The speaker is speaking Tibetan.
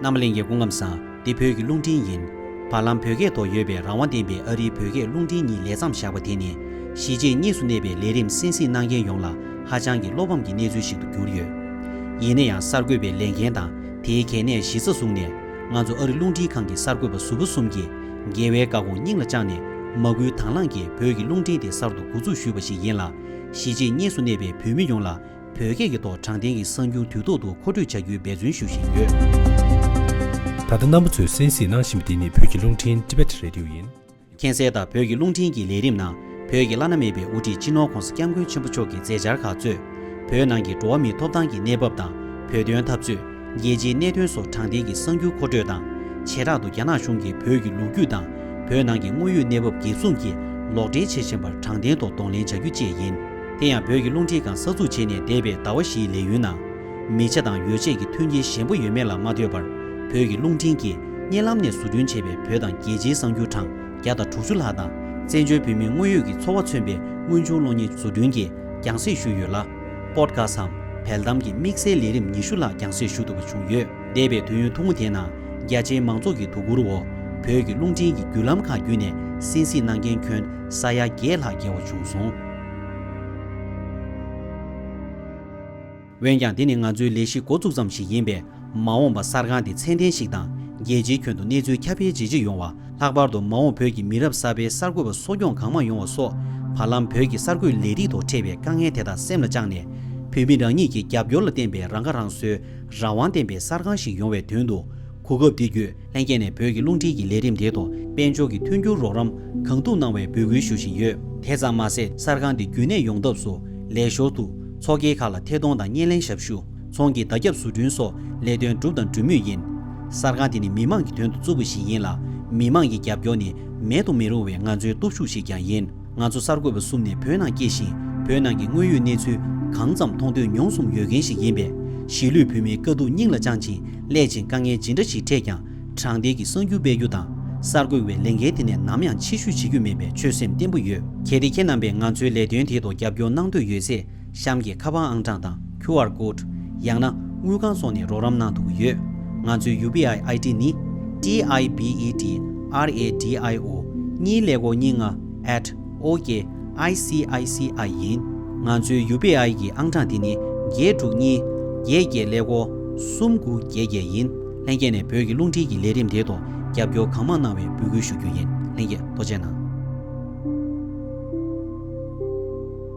རྣམ་གླིང་གི་སྐུ་ངམ་སངས་འདི་བོད་ཀྱི་རླུང་འཕྲིན་ཡིན། བར་ལམ་བོད་སྐད་ཐོག་ཡོད་པའི་རང་དབང་ལྡན་པའི་ཨ་རིའི་བོད་སྐད་རླུང་འཕྲིན་གཉིས་ལས་མཚམས་བཞག་པ་དེ་ནི། གཞིས་བྱེས་གཉིས་སུ་གནས་པའི་ལས་རིམ་སྲིད་སྲིད་གནང་མཁན་ཡོངས་ལ་ཧ་ཅང་གི་བློ་ཕམ་གྱི་གནས་ཚུལ་ཞིག་ཏུ་གྱུར་ཡོད། ཡིན་ན་ཡང་གསར་འགོད་པའི་ལས་འགན་དང་དེའི་གལ་གནད་གཞི་རྩ་བཟུང་ནས། ང་ཚོ་ཨ་རི་རླུང་འཕྲིན་ཁང་གི་གསར་འགོད་པ་གཟུ་བོ་གསུམ་གྱིས་རྒྱལ་བའི་བཀའ་དགོངས་སྙིང་ལ་བཅངས་ནས། མ་སྐུལ་དང་བླངས་ཀྱིས་བོད་ཀྱི་རླུང་འཕྲིན་དེ་གསར་དུ་འགོ་འཛུགས་ཞུས་པ་ཞིག་ཡིན་ལ། གཞིས་བྱེས་གཉིས་སུ་གནས་པའི་བོད་མི་ཡོངས་ལ་བོད་སྐད་ཀྱི་ཐོག་དྲང་བདེན་གྱི་གསར་འགྱུར་དུས་ཐོག་ཏུ་མཁོ་སྤྲོད་བྱ་རྒྱུའི་འབད་བརྩོན་ཞུ་བཞིན་ཡོད། ད་ལྟ་རྣམ་པ་ཚོས་གསན་གཟིགས་གནང་བཞིན་པ་འདི་ནི་བོད་ཀྱི་རླུང་འཕྲིན Tibet Radio ཡིན། མཁྱེན་གསལ་ལྟར་བོད་ཀྱི་རླུང་འཕྲིན་གྱི་ལས་རིམ་ནང་བོད་ཀྱི་བླ་ན་མེད་པའི་དབུ་ཁྲིད་སྤྱི་ནོར ྋགོང་ས ྋསྐྱབས་མགོན་ཆེན་པོ་མཆོག་གི་མཛད་འཆར་ཁག་གཙོས། བོད་ནང་གི་འགྲོ་བ་མིའི་ཐོབ་ཐང་གི་གནས་བབ་དང་བོད་དོན་འཐབ་རྩོད། རྒྱལ་སྤྱིའི་གནད་དོན་སོགས་དྲང་བདེན་གྱི་གསར་འགྱུར་མཁོ་སྤྲོད་དང། བྱེ་བྲག་ཏུ་རྒྱ་ནག་གཞུང་གིས་བོད་ཀྱི་ལོ་རྒྱུས་དང་བོད་ནང་གི་དངོས་ཡོད་གནས་བབ་འགེབས་སྲུང་གིས་ལོག་འགྲེལ་བྱེད་བཞིན་པར་དྲང་བདེན་ཐོག་གདོང་ལེན་བྱ་རྒྱུ་བཅས་ཡིན། དེ་ཡང་བོད་ཀྱི་རླུང་མཁྲིས་གང་ས་ཚུགས་བྱས་ནས་བསྡད་པའི་ཟླ་བ་བཞིའི་ལས་ཡུན་ནང། མི་ཆ་དང་ཡོ་བྱད་ཀྱི་མཐུན་རྐྱེན་ཞན་པོ་ཡོད་མེད་ལ་མ་ལྟོས་པར་བོད་ཀྱི་རླུང་འཕྲིན་གྱིས་བརྙན་ལམ་ནས་བཟོ་སྐྲུན་བྱས་པའི་བོད་དང་རྒྱལ་སྤྱིའི་གསང་རྒྱུད་གྲངས་བརྒྱ་དང་དྲུག་ཅུ་ལྷག་དང་བཙན་བྱོལ་བོད་མིའི་དངོས་ཡོད་ཀྱི་འཚོ་བ་མཚོན་པའི་དངོས་བྱུང་གློག་བརྙན་བཟོ་སྐྲུན་གྱིས་རྒྱང་བསྲེས་ཞུས་ཡོད་ལ། སྤོརྟ་ཁ་སམ། བལ་གཏམ་གྱི་དམིགས་བསལ་ལས་རིམ་ཉི་ཤུ་ལྷག་རྒྱང་བསྲེས་ཞུ་ཐུབ་པ་བྱུང་ཡོད། འདས་པའི་དུས་ཡུན་ཐུང་ངུ་དེའི་ནང་རྒྱ་ཆེའི་མང་ཚོགས་ཀྱི་དོ་ཁུར་འོག་བོད་ཀྱི་རླུང་འཕྲིན་གྱི་བརྒྱུད་ལམ་ཁག་བརྒྱུད་ནས་སེམས་གཟིགས་གནང་མཁན་ཁྱོན་ས་ཡ་བརྒྱད་ལྷག་བརྒལ་བ་བྱུང་སོང། འོན་ཀྱང་དེ་ནི་ང་ཚོའི་ལས་གཞི་འགོ་བཙུགས་ཙམ་ཞིག་ཡིན་པས། མ་འོངས་པ་གསར་ཁང་དེ་ཚད་ལྡན་ཞིག་དང་རྒྱལ་སྤྱིའི་ཁྱོན་དུ་གནས་ཚུལ་ཁྱབ་སྤེལ་ཇེ་ཆེ་ཡོང་བ། ལྷག་པར་དུ་མ་འོངས་བོད་ཀྱི་མི་རབས་གསར་པའི་གསར་འགོད་པ་གསོ་སྐྱོང་གང་མང་ཡོང་བ་སོགས། བར་ལམ་བོད་ཀྱི་གསར་འགོད་ལས་རིགས་ཐོག་འཕྲད་པའི་དཀའ་ངལ་དེ་དག་སེམས་ལ་བཅངས་ནས། བོད་མི་རང་ཉིད་ཀྱི་རྒྱབ་སྐྱོར་ལ་བརྟེན་པའི་རང་ཁ་རང་གསོའི་རང་དབང་ལྡན་པའི་གསར་ཁང་ཞིག་ཡོང་བའི་དོན་དུ་གོ་སྐབས་འདི་བརྒྱུད། ལྷན་རྒྱས་ནས་བོད་ཀྱི་རླུང་འཕྲིན་གྱི་ལས་རིམ་དེའི་ཐོག་དཔལ་འབྱོར་གྱི་མཐུན་འགྱུར་རོགས་རམ་གང་ཐུབ་གནང་བའི་འབོད་སྐུལ་ཞུ་བཞིན་ཡོད། དེ་ཙམ་མ་ཟད་གསར་ཁང་འདི་རྒྱུན་གནས་ཡོང་ཐབས་སུ་ལས་ཞོར་དུ་ཚོགས་སྐྱིད་ཁག་ལ་ཐད་གཏོང་དང་བརྙན་ལེན་ཞབས་ཞུ། ཚོང་གི་བརྡ་ཁྱབ་བཟོ་སྐྲུན་སོགས་ལས་དོན་བསྒྲུབས་དང་སྒྲུབ་མུས་ཡིན། གསར་ཁང་དེ་ནི་མི་མང་གི་དོན་དུ་བཙུགས་པ་ཞིག་ཡིན་ལ་མི་མང་གི་རྒྱབ་སྐྱོར་ནི་མེད་དུ་མི་རུང་བའི་ང་ཚོའི་སྟོབས་ཤུགས་ཤིག་ཀྱང་ཡིན། ང་ཚོ་གསར་འགོད་པ་གསུམ་ནི་བོད་ནང་སྐྱེས་ཤིང་བོད་ནང་གི་དངོས་ཡོད་གནས་ཚུལ་གང་ཙམ་མཐོང་ཐོས་མྱོང་གསུམ་ཡོད་མཁན་ཞིག་ཡིན་པས། གཞིས་ལུས་བོད་མིའི་དཀའ་སྡུག་སྙིང་ལ་བཅངས་ཅིང་སླད་ཕྱིན་དཀའ་ངལ་ཇི་འདྲ་ཞིག་འཕྲད་ཀྱང་དྲང་བདེན་གྱི་གསང་རྒྱུ་སྤེལ་རྒྱུ་དང། གསར་འགོད་པའི་ལས་འགན་དེ་ནས་ནམ་ཡང་ཕྱི་བཤོལ་བྱེད་རྒྱུ་མེད་པའི་ཆོད་སེམས་བརྟན་པོ་ཡོད། གལ་ཏེ་ཁྱེད་རྣམ་པས་ང་ཚོའི་ལས་དོན་དེའི་ཐོག་རྒྱབ་སྐྱོར་གནང་འདོད་ཡོད་ཚེ། གཤམ་གྱི་ཁ་པར་ཨང་གྲངས་དང QR Code། ཡང་ན་དངུལ་ཁང་སོགས་ནས་རོགས་རམ་གནང་ཐུབ་ཀྱི་ཡོད། ང་ཚོའི UPI ID ནི། TIBEDRADIO། གཉིས་ལས་གོ་གཉིས་ལྔ། at ok ICICI། ཡིན། ང་ཚོའི UPI གྱི་ཨང་གྲངས་དེ་ནི་བརྒྱད་དྲུག་གཉིས། བརྒྱད་བརྒྱད་ལས་གོ། གསུམ་དགུ་བརྒྱད་བརྒྱད་ཡིན། ལྷན་རྒྱས་ནས་བོད་ཀྱི་རླུང་འཕྲིན་གྱི་ལས་རིམ་དེའི་ཐོག་རྒྱབ་སྐྱོར་གང་མང་གནང་བའི་འབོད་སྐུལ་ཞུ་རྒྱུ་ཡིན། ལྷན་རྒྱས་ཐོག་མཆན་གནང།